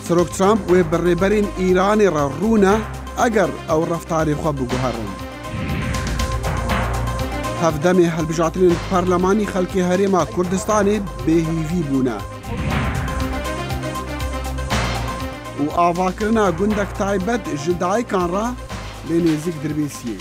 سەرۆک ترامپ وێ بە ڕێبەرین ئیرانێ ڕە ڕوونە ئەگەر ئەو ڕفتاری خۆ بگوهڕن. هەفدەمێ هەلبژاترین پەرلەمانی خەلکی هەرێما کوردستانی بێهیوی بوونە. و ئاڤاکردنا گوندەک تایبەت ژ دایکان ڕا لێ نێزیک دربێسیێ.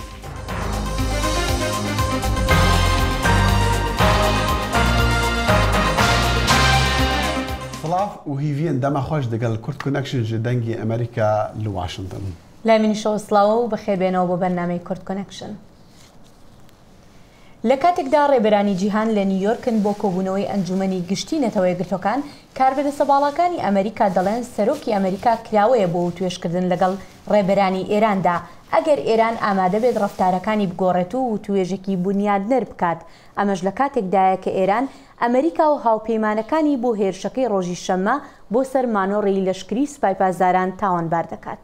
سڵاو و هیڤین دەمە خۆش دەگەل کورد کونەکشن ژە دەنگی ئەمەریکا لە واشنتن. لای منیشەوە سڵاو و بەخێربێنەوە بۆ بەرنامەی کورد کونەکشن. لە کاتێکدا ڕێبەرانی جیهان لە نیویۆرکن بۆ کۆبوونەوەی ئەنجوومەنی گشتی نەتەوەیەکگرتووەکان، کاربەدەستە باڵاکانی ئەمەریکا دەڵێن سەرۆکی ئەمەریکا کراوەیە بۆ وتوێژکردن لەگەڵ ڕێبەرانی ئێراندا، ئەگەر ئێران ئامادەبێت ڕەفتارەکانی بگۆڕێت و وتووێژێکی بونیادنەر بکات، ئەمەش لە کاتێکدایە کە ئێران ئەمەریکا و هاوپەیمانەکانی بۆ هێرشەکەی ڕۆژی شەممە بۆ سەر مانۆڕی لەشکری سوپای پاسداران تاوانبار دەکات.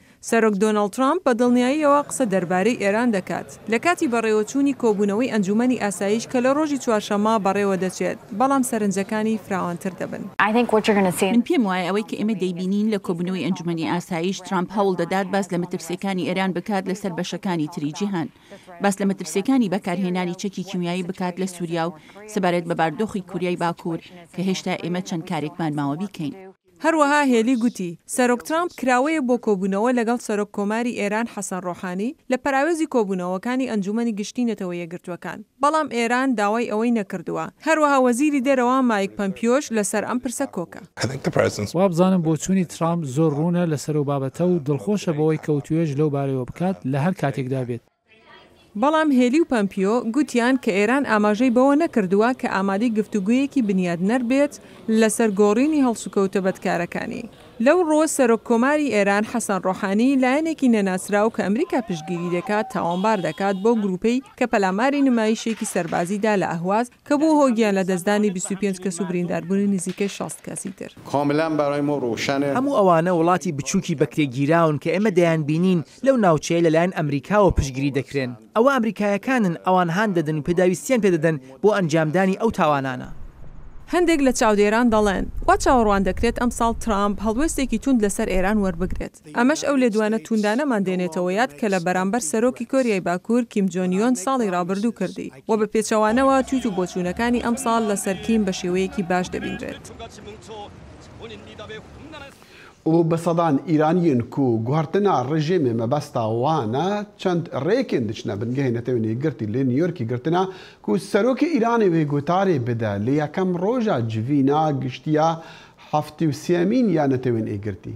سەرۆک دۆناڵد ترامپ بە دڵنیاییەوە قسە دەربارەی ئێران دەکات لە کاتی بەڕێوەچوونی کۆبوونەوەی ئەنجوومەنی ئاسایش کە لە ڕۆژی چوارشەممە بەڕێوە دەچێت، بەڵام سەرنجەکانی فراوانتر دەبن. من پێم وایە ئەوەی کە ئێمە دەیبینین لە کۆبوونەوەی ئەنجوومەنی ئاسایش، ترامپ هەوڵ دەدات باس لە مەترسییەکانی ئێران بکات لەسەر بەشەکانی تری جیهان. باس لە مەترسییەکانی بەکارهێنانی چەکی کیمیایی بکات لە سووریا و سەبارەت بە باردۆخی کوریای باکوور کە هێشتا ئێمە چەند کارێکمان ماوە بیکەین. هەروەها هێلی گوتی، سەرۆک ترامپ کراوەیە بۆ کۆبوونەوە لەگەڵ سەرۆک کۆماری ئێران حەسەن ڕۆحانی لە پەراوێزی کۆبوونەوەکانی ئەنجوومەنی گشتیی نەتەوە یەکگرتووەکان، بەڵام ئێران داوای ئەوەی نەکردووە. هەروەها وەزیری دەرەوە مایک پەمپیۆش لەسەر ئەم پرسە کۆکە. وابزانم بۆچوونی ترامپ زۆر ڕوونە لەسەر ئەو بابەتە و دڵخۆشە بەوەی کە وتووێژ لەو بارەیەوە بکات لە هەر کاتێکدا بێت. بەڵام هێلی و پەمپیۆ گوتیان کە ئێران ئاماژەی بەوە نەکردووە کە ئامادەی گفتوگۆیەکی بنیادنەر بێت لەسەر گۆڕینی هەڵسوکەوتە بەدکارەکانی. لەو ڕووە سەرۆک کۆماری ئێران حەسەن ڕۆحانی لایەنێکی نەناسراو کە ئەمریکا پشتگیری دەکات تاوانبار دەکات بەو گرووپەی کە پەلاماری نمایشێکی سەربازی دا لە ئەهواز کە بووە هۆی گیان لەدەستدانی بیست و پێنج کەس و برینداربوونی نزیکەی شەست کەسی تر. هەموو ئەوانە وڵاتی بچووکی بەکرێگیراون کە ئێمە دەیانبینین لەو ناوچەیە لەلایەن ئەمریکاوە پشتگیری دەکرێن. ئەوە ئەمریکایەکانن ئەوان هان دەدەن و پێداویستییان پێ دەدەن بۆ ئەنجامدانی ئەو تاوانانە. هەندێک لە چاودێران دەڵێن، وا چاوەڕوان دەکرێت ئەمساڵ ترامپ هەڵوێستێکی توند لەسەر ئێران وەربگرێت. ئەمەش ئەو لێدوانە تووندانەمان دێنێتەوە یاد کە لە بەرامبەر سەرۆکی کۆریای باکوور کیم جۆن یۆن ساڵی رابردوو کردی و بە پێچەوانەوە تویت و بۆچوونەکانی ئەمساڵ لەسەر کیم بە شێوەیەکی باش دەبینرێت. و بە سەدان ئیرانیین کو گوهرتنە رژێمێ مەبەستە وانە چەند رێکێن دچنە بنگەێ نەتەوێنێ گرتی لێ نیۆرکی گرتنە کو سەرۆکێ ئیرانێ وێ گوتارێ بدە لە یەکەم رۆژە جڤینە گشتیە هەفتی و سێەمین یا نەتەوێنێ گرتی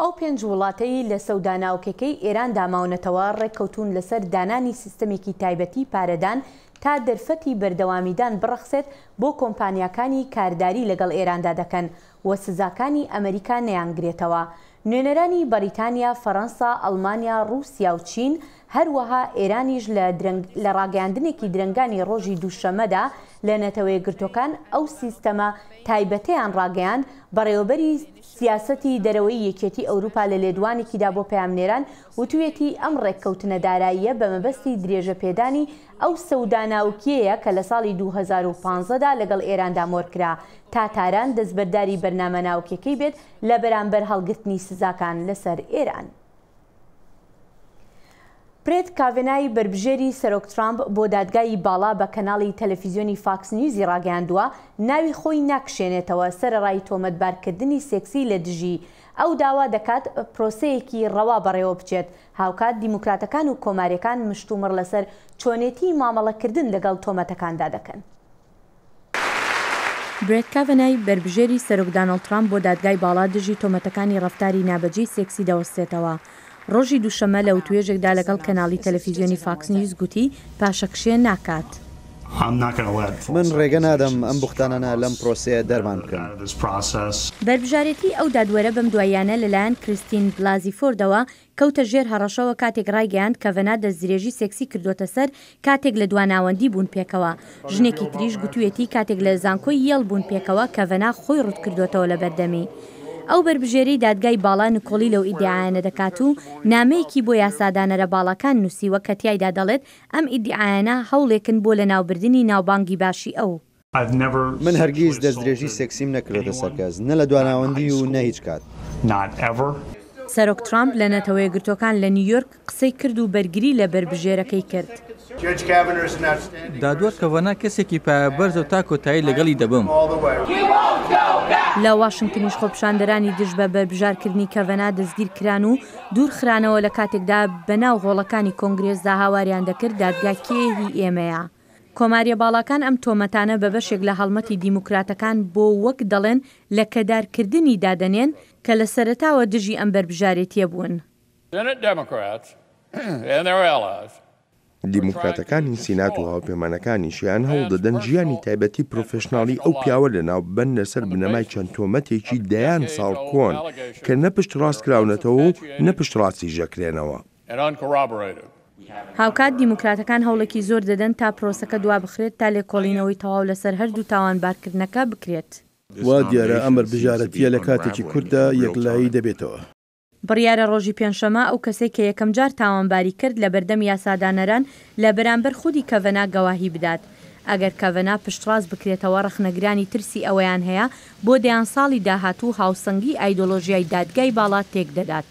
ئەو پێنج وڵاتەی لە سەودا ناوکەکەی ئێراندا ماونەتەوە ڕێککەوتوون لەسەر دانانی سیستەمێکی تایبەتی پارەدان تا دەرفەتی بەردەوامیدان بڕەخسێت بۆ کۆمپانیاکانی کارداری لەگەڵ ئێراندا دەکەن و سزاکانی ئەمەریکا نەیانگرێتەوە نوێنەرانی بەڕیتانیا، فەرەنسا، ئەڵمانیا، ڕووسیا و چین هەروەها ئێرانیش لە درەنگ لە ڕاگەیاندنێکی درەنگانی ڕۆژی دووشەمەدا لە نەتەوەیەکگرتووەکان ئەو سیستەمە تایبەتەیان ڕاگەیاند بەڕێوەبەری سیاسەتی دەرەوەی یەکێتی ئەوروپا لە لێدوانێکی دا بۆ پەیامنێران وتویەتی ئەم ڕێککەوتنە داراییە بە مەبەستی درێژە پێدانی ئەو سەودا ناوکیەیە کە لە ساڵی دوو هەزار و پازدە دا لەگەڵ ئێراندا مۆرکرا تا تاران دەستبەرداری بەرنامە ناوکیەکەی بێت لە بەرامبەر هەڵگرتنی سزاکان لەسەر ئێران. برێت کاڤێنای بەربژێری سەرۆک ترامپ بۆ دادگای باڵا بە کەناڵی تەلەفیزیۆنی فاکس نیوزی ڕاگەیاندووە، ناوی خۆی ناکشێنێتەوە سەرەڕای تۆمەتبارکردنی سێکسی لە دژی، ئەو داوا دەکات پرۆسەیەکی ڕەوا بەڕێوەبچێت، هاوکات دیموکراتەکان و کۆماریەکان مشتومڕ لەسەر چۆنێتیی مامەڵەکردن لەگەڵ تۆمەتەکاندا دەکەن. برێت کاڤەنای، بەربژێری سەرۆک دانۆڵد ترامپ بۆ دادگای باڵا دژی تۆمەتەکانی ڕەفتاری نابەجێی سێکسی دەوەستێتەوە. ڕۆژی دووشەممە لە وتووێژێکدا لەگەڵ کەناڵی تەلەفیزیۆنی فاکس نیوز گوتی، پاشەکشێ ناکات. من ڕێگە نادەم ئەم بوختانانە لەم پرۆسەیە دەرمان بکەن. بەربژارێتی ئەو دادوەرە بەم دواییانە لەلایەن کریستین بلازی فۆردەوە کەوتە ژێر هەڕەشەوە کاتێک ڕایگەیاند کەڤەنا دەستدرێژی سێکسی کردووەتە سەر کاتێک لە دوا ناوەندی بوون پێکەوە. ژنێکی تریش گوتوویەتی کاتێک لە زانکۆی یێڵ بوون پێکەوە کەڤەنا خۆی ڕووتکردووەتەوە لە بەردەمی. ئەو بەربژێرەی دادگای باڵا نکۆڵی لەو ئیدیعایانە دەکات و نامەیەکی بۆ یاسادانەرە باڵاکان نووسیوە کە تیایدا دەڵێت ئەم ئیدیعایانە هەوڵێکن بۆ لەناوبردنی ناوبانگی باشی ئەو من هەرگیز دەستدرێژی سێکسیم نەکردۆتە سەر کەس، نە لە دواناوەندی و نە هیچ کات. سەرۆک ترامپ لە نەتەوەیەکگرتووەکان لە نیویۆرک قسەی کرد و بەرگری لە بەربژێرەکەی کرد. دادوەر کەڤەنا کەسێکی پایەبەرزە و تا کۆتایی لەگەڵی دەبم. لە واشنگتنیش خۆپیشاندەرانی دژ بە بەربژارکردنی کەڤەنا دەستگیرکران و دوورخرانەوە لە کاتێکدا بەناو هۆڵەکانی کۆنگرێسدا هاواریان دەکرد دادگا کێ هی ئێمەیە. کۆماریە باڵاکان ئەم تۆمەتانە بە بەشێک لە هەڵمەتی دیموکراتەکان بۆ وەک دەڵێن لە کەدار کردنی دادەنێن کە لە سەرەتاوە دژی ئەم بەربژارێتیە بوون. دیموکراتەکانی سینات و هاوپەیمانەکانیشیان هەوڵدەدەن ژیانی تایبەتی پرۆفێشناڵی ئەو پیاوە لەناو ببەن لەسەر بنەمای چەند تۆمەتێکی دەیان ساڵ کۆن کە نە پشتڕاست کراونەتەوە و نە پشتڕاستیش دەکرێنەوە. هاوکات دیموکراتەکان هەوڵێکی زۆر دەدەن تا پرۆسەکە دوابخرێت تا لێکۆڵینەوەی تەواو لەسەر هەردوو تاوانبارکردنەکە بکرێت. وا دیارە ئەمەر بژارەتییە لە کاتێکی کورتدا یەکلایی دەبێتەوە. بڕیارە ڕۆژی پێنجشەمە ئەو کەسەی کە یەکەمجار تاوانباری کرد لە بەردەم یاسادانەران لە بەرامبەر خودی کەڤەنا گەواهی بدات. ئەگەر کەڤەنا پشتڕاست بکرێتەوە ڕەخنەگرانی ترسی ئەوەیان هەیە بۆ دەیان ساڵی داهاتوو هاوسەنگی ئایدۆلۆژیای دادگای باڵا تێکدەدات.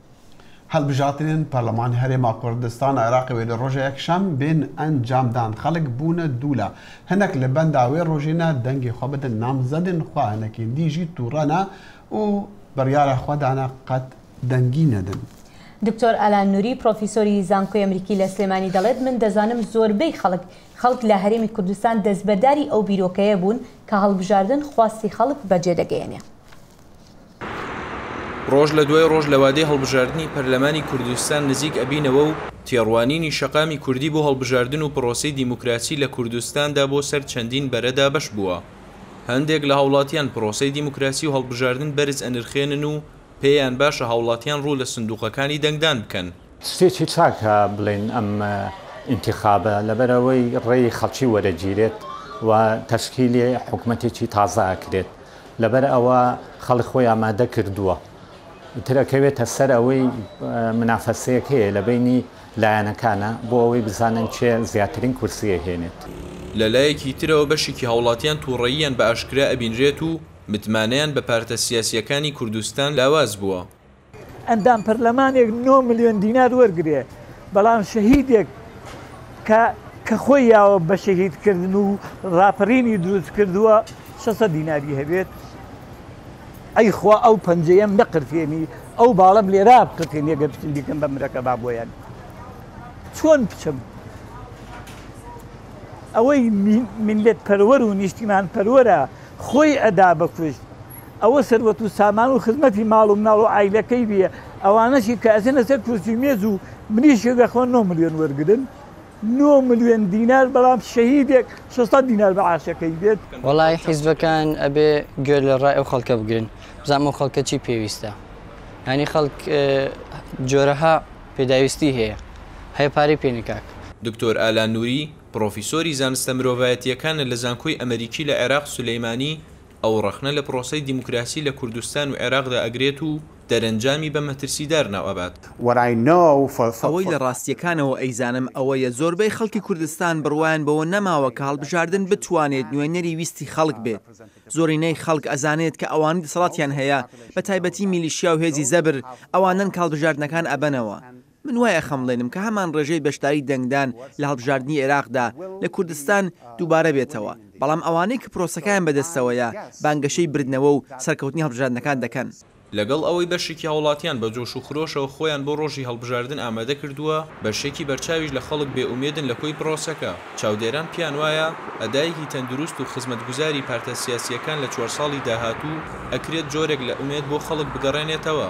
هەڵبژاتنێن پەرلەمان هەرێما کوردستان عێراقی وێ لە ڕۆژە یەکشەم بێن ئەنجام دان خەڵک بوونە دوولا هەنەک لە بەندا وێ ڕۆژینە دەنگی خۆ بدن نامزەدن خوا هەنەکین دیژی تووڕەنە و بڕیارە خۆدانە قەت دەنگی نەدن. دکتۆر ئالان نوری پرۆفیسۆری زانکۆی ئەمریکی لە سلێمانی دەڵێت من دەزانم زۆربەی خەڵک خەڵک لە هەرێمی کوردستان دەستبەرداری ئەو بیرۆکەیە بوون کە هەڵبژاردن خواستی خەڵک بەجێدەگەیەنێ. ڕۆژ لە دوای ڕۆژ لە وادەی هەڵبژاردننی پەرلەمانی کوردستان نزیک ئەبینەوە و تێڕوانینی شەقامی کوردی بۆ هەڵبژاردن و پرۆسەی دیموکراسی لە کوردستاندا بۆ سەر چەندین بەرە دابەش بووە. هەندێک لە هاوڵاتیان پرۆسەی دیموکراسی و هەڵبژاردن بەرز ئەنرخێنن و پێیان باشە هاوڵاتیان ڕوو لە سندووقەکانی دەنگدان بکەن. شتێکی چاکە بڵێین ئەم ئینتیخابە لەبەرئەوەی ڕێی خەڵکی وەرەگیرێت و تەشکیلی حکومەتێکی تازە ئەکرێت لەبەر ئەوە خەڵک خۆی ئامادە کردووە ئیتر ئەکەوێتە سەر ئەوەی منافەسەیەکەیە لە بەینی لایەنەکانە بۆ ئەوەی بزانن کێ زیاترین کورسی ئەهێنێت. لە لایەکی ترەوە بەشێکی هاوڵاتیان توڕەییان بە ئاشکرا ئەبینرێت و متمانەیان بە پارتە سیاسییەکانی کوردستان لاواز بووە. ئەندام پەرلەمانێک نۆ ملیۆن دینار وەرگرێ بەڵام شەهیدێک کە کە خۆی یاوە بە شەهیدکردن و ڕاپەرینی دروست کردووە شەسە دیناری هەبێت ئەی خوا ئەو پەنجەیەم نەقرتێنی ئەو باڵم لێرا بقتێن یەگە بچین دیکەم بە مرەکە با بۆیان چۆن بچم ئەوەی منلت پەروەەر و نیشتیمان پەروەرە خۆی ئەدا بەکوشت ئەوە سەروەت و سامان و خزمەتی ماڵ و مناڵ و عایلەکەی بێ ئەوانەشی کە ئەچنە سەر کورسی مێز و مریشک ئەخۆن نۆ ملیۆن وەرگرن نۆ ملیۆن دینار بەڵام شەهیدێک شەش سەد دینار مەعاشەکەی بێت. وەڵای حیزبەکان ئەبێ گوێ لە ڕای ئەو خەڵکە بگرن بزانم ئەو خەڵکە چی پێویستە یانی خەڵک جۆرەها پێداویستی هەیە هەیە پارەی پێ نکاک. دکتۆر ئالان نوری، پڕۆفیسۆری زانستە مرۆڤایەتییەکانە لە زانکۆی ئەمەریکی لە عێراق سولەیمانی، ئەو ڕەخنە لە پرۆسەی دیموکراسی لە کوردستان و عێراقدا ئەگرێت و دەرەنجامی بە مەترسیدار ناو ئەبات. ئەوەی لە ڕاستییەکانەوە ئەیزانم ئەوەیە زۆربەی خەڵکی کوردستان بڕوایان بەوە نەماوە کە هەڵبژاردن بتوانێت نوێنەری ویستی خەڵک بێت. زۆرینەی خەڵک ئەزانێت کە ئەوانەی دەسەڵاتیان هەیە، بە تایبەتی میلیشیا و هێزی زەبر، ئەوانەن کە هەڵبژاردنەکان ئەبەنەوە. من وای ئەخەمڵێنم کە هەمان ڕێژەی بەشداری دەنگدان لە هەڵبژاردنی عێراقدا لە کوردستان دووبارە بێتەوە، بەڵام ئەوانەی کە پرۆسەکەیان بەدەستەوەیە بانگەشەی بردنەوە و سەرکەوتنی هەڵبژاردنەکان دەکەن. لەگەڵ ئەوەی بەشێکی هاوڵاتیان بە جۆش و خرۆشەوە خۆیان بۆ ڕۆژی هەڵبژاردن ئامادە کردووە، بەشێکی بەرچاویش لە خەڵک بێ ئومێدن لە کۆی پرۆسەکە، چاودێران پێیان وایە ئەدایەکی تەندروست و خزمەتگوزاری پارتە سیاسییەکان لە چوار ساڵی داهاتوو ئەکرێت جۆرێک لە ئومێد بۆ خەڵک بگەڕێنێتەوە.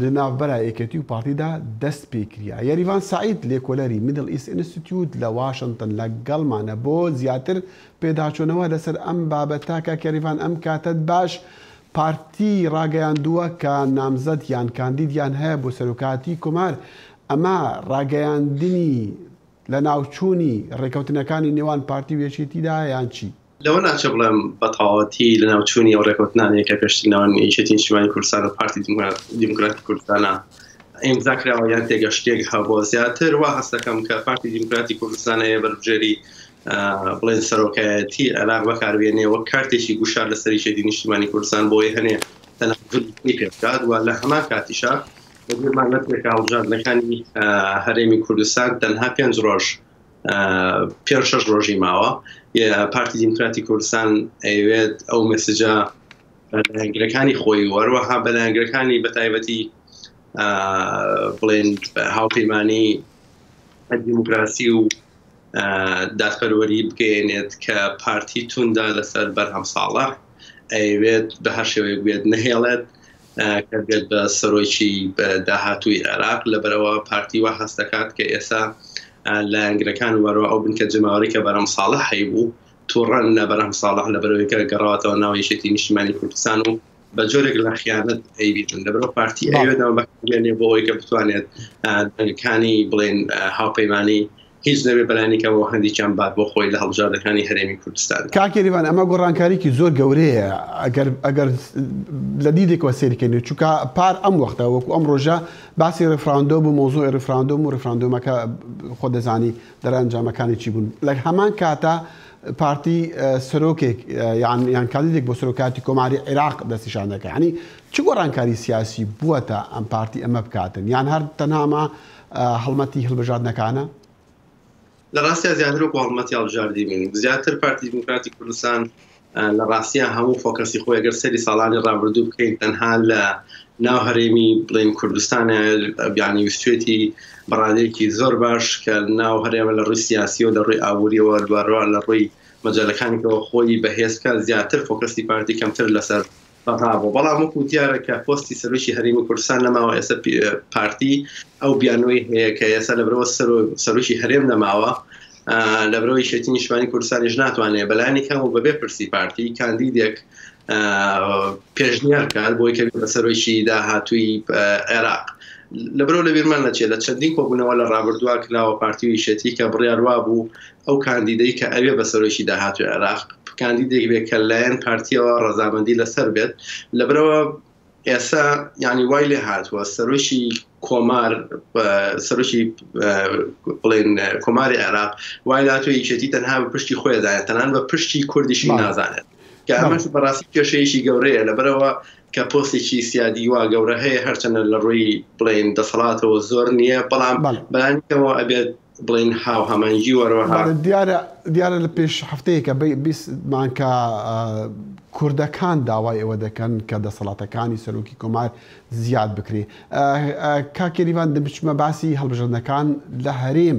لە ناوبرای یەکێتی و پارتیدا دەست پێ کریا. یەریڤان سەعید، لێکۆلەری میدڵ ئیست ئینستیتیوت لە واشنتن لەگەڵمانە بۆ زیاتر پێداچوونەوە لەسەر ئەم بابەتە، کاک یەریڤان ئەم کاتەت باش، پارتی ڕاگەیاندووە کە نامزەد یان کاندیدیان هەیە بۆ سەرۆکایەتی کۆمار، ئەمە ڕاگەیاندنی لەناوچوونی ڕێکەوتنەکانی نێوان پارتی و یەکێتیدایە یان چی؟ لەوە ناچێ بڵێم بە تەواوەتی لەناوچوونی ئەو ڕێکەوتنانەیە کە پێشتر ناوەن یەکێتی نیشتیمانی کوردستان و پارتی دیموکراتی کوردستانە ئیمزا کراوە یان تێگەشتێک هەبوو زیاتر وا هەستەکەم کە پارتی دیموکراتی کوردستانەیە بەربژێری بڵێن سەرۆکایەتی عێراق بەکاربیێنێ وەک کارتێکی گوشار لە سەریشێتی نیشتیمانی کوردستان بۆی هەنێ تەنەفلی پێبکات و لە هەمان کاتیشە بەگوێمان لە پێکاڵژاندنەکانی هەرێمی کوردستان تەنها پێنج ڕۆژ پێنج شەش ڕۆژی ماوە پارتی دیموکراتی کوردستان ئەیوێت ئەو مەسجە بەلایەنگرەکانی خۆی وەروەها بەلایەنگرەکانی بە تایبەتی بڵێن هاوپەیمانی دیموکراسی و دادپەروەری بگەێنێت کە پارتی توندا لەسەر بەرهەم ساڵە ئەیوێت بە هەر شێوەیە بێت نهێڵێت کە دێت بە سەرۆکی داهاتووی عێراق، لەبەرئەوە پارتی وا هەست دەکات کە ئێستا لایەنگرەکان وەرەو ئەو بنکە جەماوەری کە بەرهەم ساڵح هەیبوو توڕەن لە بەرهەم ساڵح لەبەرەوەی کە گەڕاوەتەوە ناو یەکێتی نیشتیمانی کوردستان و بە جۆرێک لە خیانەت ئەیبیتن لەبەرەوە پارتی ئەوێتەوە بەکارێنێ بۆ ئەوەی کە بتوانێت دەنگەکانی بڵێن هاوپەیمانی هیچ نەبێ بەلانیکەمەوە هەندێکیان بات بۆ خۆی لە هەڵبژاردەکانی هەرێمی کوردستاندا. کاک کەریمان ئەمە گۆڕانکاریکی زۆر گەورەیە ئەگەر ئەگەر لە دیدێکەوە سەیری کەین چونکە پار ئەم وەختە وەکو ئەم ڕۆژە باسی ڕفراندۆم و مۆزۆی ڕفراندۆم و ڕفراندۆمەکە خۆ دەزانی دەرەنجامەکانی چی بوون لە هەمان کاتە پارتی سەرۆکێک یان یان کاندیدێک بۆ سەرۆکاتی کۆماری عێراق دەستیشان دەکە ینی چ گۆڕانکاری سیاسی بووە تا ئەم پارتی ئەمە بکاتن یان هەر تەناما هەڵمەتی هەڵبژاردنەکانە. لە ڕاستیا زیاتر وەکو هەڵمەتی هەڵبژاردی بوو. زیاتر پارتی دیموکراتی کوردستان لە ڕاستیا هەموو فۆکەسی خۆی ئەگەر سەیری ساڵانی ڕابردوو بکەین تەنها لە ناو هەرێمی بڵێن کوردستان یانی ویستێتی بەڕادەیەکی زۆر باش کە ناو هەرێمە لە ڕووی سیاسی و لە ڕووی ئابووریەوە دوارەوە لە ڕووی مەجالەکانیەوە خۆی بەهێزکە زیاتر فۆکەسی پارتی کەمتر لەسەر براڤۆ بەڵام وەکو دیارە کە پۆستی سەرۆکی هەرێمی کوردستان نەماوە ئێستا پارتی ئەو بیانوەی هەیە کە ئێستا لەبرەوە سەرۆکی هەرێم نەماوە لەبرەوەی شێتی نیشتمانی کوردستانیش ناتوانێت بەلانی کەم و بەبێ پرسی پارتی کاندیدێک پێشنیار کار بۆی کە بە سەرۆکی داهاتووی عێراق لەبرەوە لە بیرمان نەچێت لە چەندین کۆبوونەوە لە ڕابردووا کراوە پارتی ویشێتی کە بڕیاروا بوو ئەو کاندیدەی کە ئەوێ بە سەرۆکی داهاتووی عێراق کاندیدێک بێت کە لایەن پارتیەوە ڕەزامەندی لەسەر بێت لەبرەوە ئێستا ینی وای لێ هاتووە سەرۆکی کۆمار سەرۆکی بڵێن کۆماری عێراق وای لاتۆ یەکێتی تەنها بە پشتی خۆیدایە تەنان بە پشتی کوردیشی نازانێت کە ئەمەش بەڕاستی کێشەیەکی گەورەیە لەبەرەوە کە پۆستێکی سیادی وا گەورە هەیە هەرچەندە لە ڕووی بڵێین دەسەڵاتەوە زۆر نییە بەڵام بەلانیکەمەوە ئەبێت بڵێین هاو هەمەنگی وەرەوە دیارە دیارە لە پێش هەفتەیەکە بیستمان کە کوردەکان داوای ئەوە دەکەن کە دەسەڵاتەکانی سەرۆکی کۆمار زیاد بکرێ کاکێریوان دەبچمە باسی هەڵبژەردنەکان لە هەرێم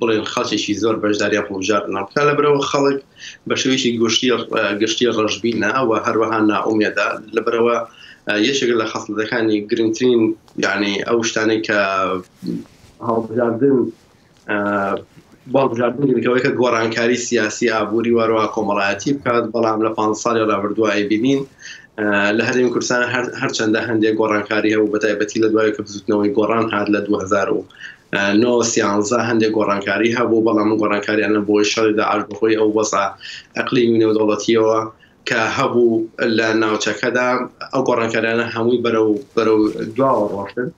بڵێن خەڵکێکی زۆر بەشداریان هەڵبژاردنەوە بکات، لەبەرئەوە خەڵک بە شێوەیەکی گشتی گشتی ڕەشبینە و هەروەها نائومێدە، لەبەرئەوە یەکێک لە خەسڵەتەکانی گرنگترین یعنی ئەو شتانەی کە هەڵبژاردن بەڵبژاردنەوەی کە گۆڕانکاری سیاسی ئابووری وارەوە کۆمەڵایەتی بکات بەڵام لە پ ساڵی ڕابردووە ئەیبینین لە هەرێم کوردستان هەرچەندە هەندێک گۆڕانکاری هەبوو بە تایبەتی لە دوای کە بزوتنەوەی گۆڕان هاات لە 2000 نۆ سیانزە هەندێک گۆڕانکاری هەبوو، بەڵام ئەم گۆڕانکاریانە بەهۆی شەڕی داعش، بەهۆی ئەو وەزعە ئەقلیمی و نێودەوڵەتییەوە کە هەبوو لە ناوچەکەدا، ئەو گۆڕانکاریانە هەمووی بەرەو بەرەو دواوە ڕۆشتن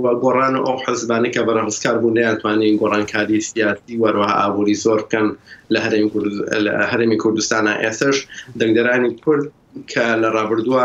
و گۆڕان و ئەو حزبانەی کە بەرەڕزکار بوون نەیانتوانی گۆڕانکاری سیاسی و هەروەها ئابووری زۆر بکەن لە هەرێمی کورد لە هەرێمی کوردستانا. ئێستەش دەنگدەرانی کورد کە لە ڕابردووە.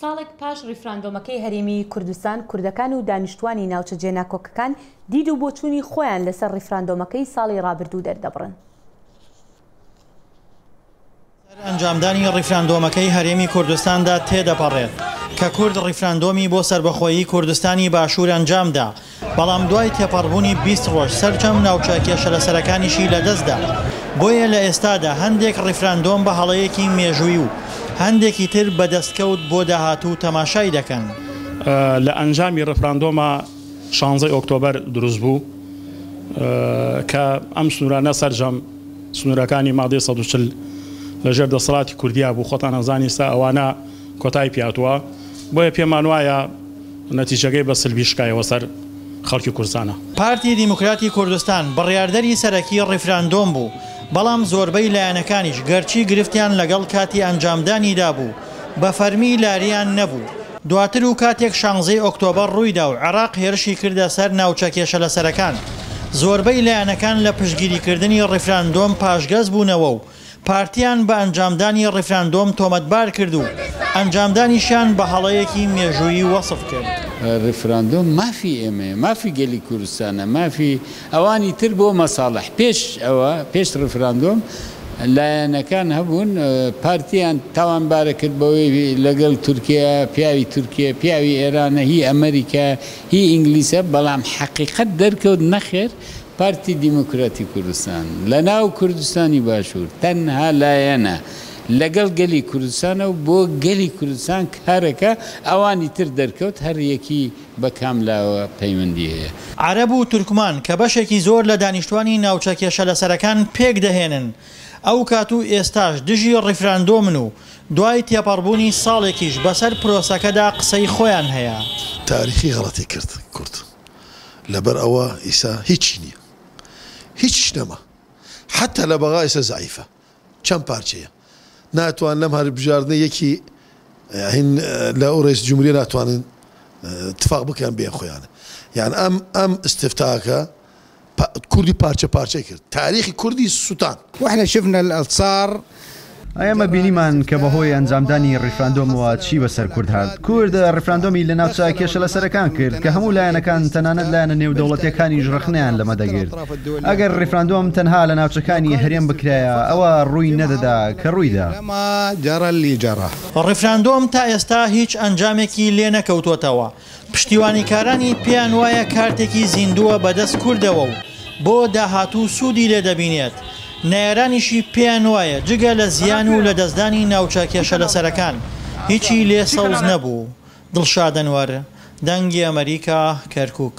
ساڵێک پاش ڕیفراندۆمەکەی هەرێمی کوردستان، کوردەکان و دانیشتووانی ناوچە جێناکۆکەکان دید و بۆچوونی خۆیان لەسەر ڕیفراندۆمەکەی ساڵی ڕابردوو دەردەبڕن. سەر ئەنجامدانی ڕیفراندۆمەکەی هەرێمی کوردستاندا تێدەپەڕێت، کە کورد ڕیفراندۆمی بۆ سەربەخۆیی کوردستانی باشوور ئەنجامدا، بەڵام دوای تێپەڕبوونی بیست ڕۆژ سەرجەم ناوچە کێشەلەسەرەکانیشی لەدەستدا، بۆیە لە ئێستادا هەندێک ڕیفراندۆم بە هەڵەیەکی مێژووی و هەندێکی تر بە دەستکەوت بۆ داهاتوو تەماشای دەکەن. لە ئەنجامی ڕیفراندۆمە شانزەی ئۆکتۆبەر دروستبوو کە ئەم سنوورانە سەرجەم سنوورەکانی مادەی سەد و چل لەژێر دەسەڵاتی کوردیا بوو، خۆتان ئەزانین ئێستا ئەوانە، کۆتای پیاتوە بۆیە پێمان وایە نەتیجەکەی بە سلبی شکایەوە سەر خەڵکی کورسانە. پارتی دیموکراتی کوردستان بڕیاردەری سەرەکی ڕیفراندۆم بوو، بەڵام زۆربەی لایەنەکانیش گەرچی گرفتیان لەگەڵ کاتی ئەنجامدانیدا بوو، بە فەرمی لارییان نەبوو. دواتر و کاتێک شانزەی ئۆکتۆبەر ڕوویدا و عێراق هێرشی کردە سەر ناوچە کێشەلەسەرەکان، زۆربەی لایەنەکان لە پشتگیریکردنی ڕیفراندۆم پاشگەز بوونەوە و پارتیان بە ئەنجامدانی ڕیفراندۆم تۆمەتبار کرد و ئەنجامدانیشیان بە هەڵەیەکی مێژوویی وەسف کرد. ڕیفراندۆم مافی ئێمەیە، مافی گەلی کوردستانە، مافی ئەوانی تر بۆ مەساڵح. پێش ئەوە، پێش ڕیفراندۆم لایەنەکان هەبوون پارتیان تاوانبارە کرد بەوەی لەگەڵ تورکیایە، پیاوی تورکیە، پیاوی ئێرانە، هی ئەمەریکایە، هی ئینگلیسە، بەڵام حەقیقەت دەرکەوت نەخێر، پارتی دیموکراتی کوردستان لە ناو کوردستانی باشوور تەنها لایەنە لەگەڵ گەلی کوردستانە و بۆ گەلی کوردستان کارەکە، ئەوانی تر دەرکەوت هەر یەکی بە کام لاوە پەیوەندی هەیە. عەرەب و تورکمان کە بەشێکی زۆر لە دانیشتوانی ناوچە کێشەلەسەرەکان پێک دەهێنن، ئەو کات و ئێستاش دژی ڕیفراندۆمن و دوای تێپەڕبوونی ساڵێکیش بەسەر پرۆسەکەدا قسەی خۆیان هەیە. تاریخی غەڵەتی کرد کورد. لەبەر ئەوە ئیسە هیچی نیە هیچیش نەما حەتا لە بەغا ئیسە زەعیفە چەند پارچەیە ناتوان لەم هەر بژاردنە یەکی هین لە ئەو ڕێز جمهوری ناتوانن اتفاق بکەن بێن خۆیانە یان ئەم ئەم استفتاکە کوردی پارچە پارچەی کرد تاریخی کوردی سوتان. واحنا شفنا الصار ئێمە بینیمان کە بەهۆی ئەنجامدانی ڕیفراندۆمەوە چی بەسەر کورد هات کورد ڕیفراندۆمی لە ناوچە کێشە لەسەرەکان کرد کە هەموو لایەنەکان تەنانەت لایەنە نێودەوڵەتیەکانیش ڕەخنەیان لەمە دەگرت ئەگەر ڕیفراندۆم تەنها لە ناوچەکانی هەرێم بکرایە ئەوە ڕووی نەدەدا کە ڕوویدا. ڕیفراندۆم تا ئێستا هیچ ئەنجامێکی لێنەکەوتۆتەوە. پشتیوانیکارانی پێیان وایە کارتێکی زیندووە بەدەست کوردەوە و بۆ داهاتوو سوودی لێ دەبینێت، نەیارانیشی پێیان وایە جگە لە زیان و لەدەستدانی ناوچە کێشەلەسەرەکان هیچی لێ سەوز نەبوو. دڵشاد ئەنوەر، دەنگی ئەمەریکا، کەرکووک.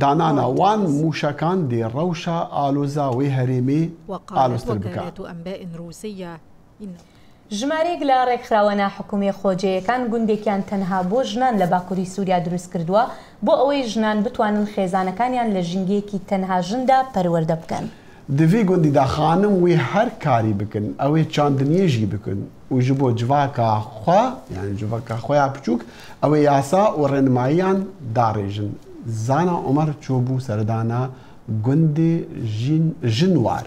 دانانا وان موشەکان دێ ڕەوشە ئالوزا وەی هەرێمێ ئالوزتر بکا. ژمارەیەک لە ڕێکخراوە ناحکومیە خۆجێیەکان گوندێکیان تەنها بۆ ژنان لە باکوری سوریا دروستکردوە بۆ ئەوەی ژنان بتوانن خێزانەکانیان لە ژینگەیەکی تەنها ژندا پەروەردە بکەن. دڤی گوندی دا خانم وی هەر کاری بکن ئەوێ چاندنیێژی بکن و ژ بۆ جڤاکا خوا یان جڤەکا خویا پچووک ئەوێ یاسا و ڕێنماییان داڕێژن زانا عومەر چۆ بوو سەردانا گوندێ ژین ژنوار.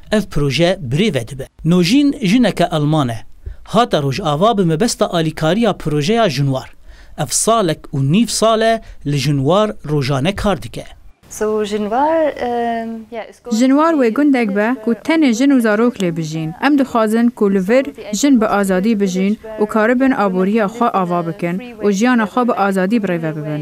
ئەڤ پرۆژە برێ ڤەدبە. نۆژین ژنەکە ئەڵمانە هاتە ڕۆژاڤا بە مەبەستا ئالیکاریا پرۆژەیا ژنوار. ئەڤ ساڵەک و نیڤ ساڵە لە ژنوار ڕۆژانە کار دکە. ژنوار وەی گوندەک بە کوو تەنێ ژن و زارۆک لێ بژین. ئەم دخوازن کوو لە ڤر ژن بە ئازادی بژین و کاربن ئابووریا خوە ئاڤا بکن و ژیانا خوە بە ئازادی بڕێڤە ببن.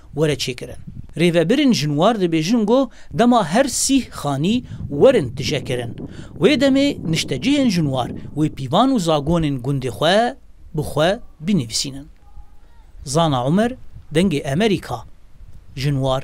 وەرە چێ کرن. رێڤە برن ژن وار دبێژن گۆ دەما هەر سیه خانی وەرن تژە کرن. وێ دەمێ نشتەجێێن ژن وار وێ پیڤان و زاگۆنێن گوندێ خوە بو خوە بینیڤسینن. زانا عومەر دەنگێ ئەمەریکا. ژن وار.